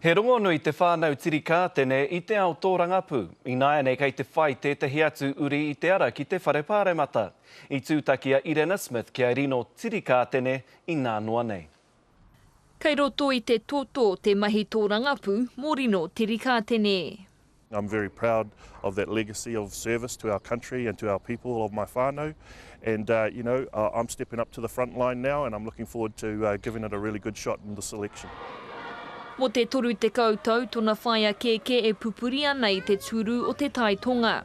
He rongonui te whānau Tirikātene i te ao tōrangapū, ināianei kei te whai tētahi atu uri i te ara ki te Whare Pāremata. I tūtaki a Irena Smith kia rino Tirikātene inā noa nei. Kei roto i te toto te mahi tōrangapū mō rino Tirikātene. I'm very proud of that legacy of service to our country and to our people of my whānau. And, uh, you know, uh, I'm stepping up to the front line now and I'm looking forward to uh, giving it a really good shot in this election. Mo te 30 tau tona whaea kēkē e pupuri ana i te tūrū o Te Tai Tonga.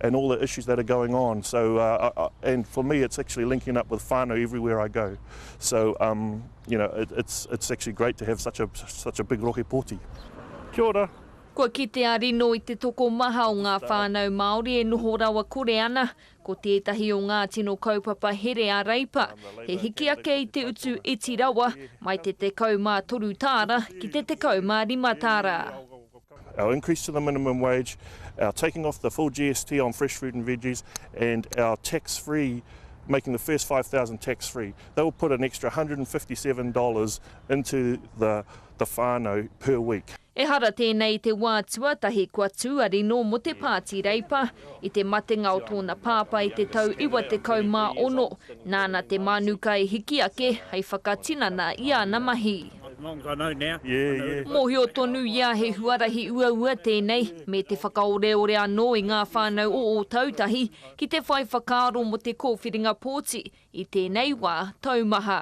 and all the issues that are going on. So, uh, I, and for me, it's actually linking up with whānau everywhere I go. So, um, you know, it, it's, it's actually great to have such a, such a big rohe pōti. Kia ora. Kua kitea rino i te tokomaha o ngā whānau Māori e noho rawa kore ana, ko tētahi o ngā tino kaupapa here a Reipa, he hiki ake i te utu iti rawa mai te 13 tāra ki te 15 tāra. our increase to the minimum wage, our taking off the full GST on fresh fruit and veggies, and our tax free, making the first 5,000 tax free. That will put an extra $157 into the, the whānau per week. Ehara tēnei i te wā tuatahi kua tū a Rino mō te Pāti Reipa. I te matenga o tōna pāpā i te tau 96, nāna te mānuka i hiki ake hei whakatinana i āna mahi. Mōhio tonu ia he huarahi uaua tēnei, me te whakaoreore anō i ngā whānau o Ōtautahi ki te whai whakaaro mō te kōwhiringa pōti i tēnei wā taumaha.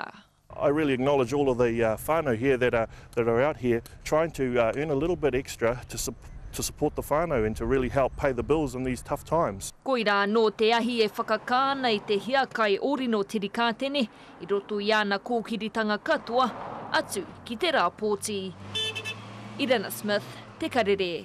Koirā anō te ahi e whakakā ana i te hiakai o Rino Tirikātene, i roto i ana kōkiritanga katoa, atu ki te rāpōti. Irena Smith, Te Karere.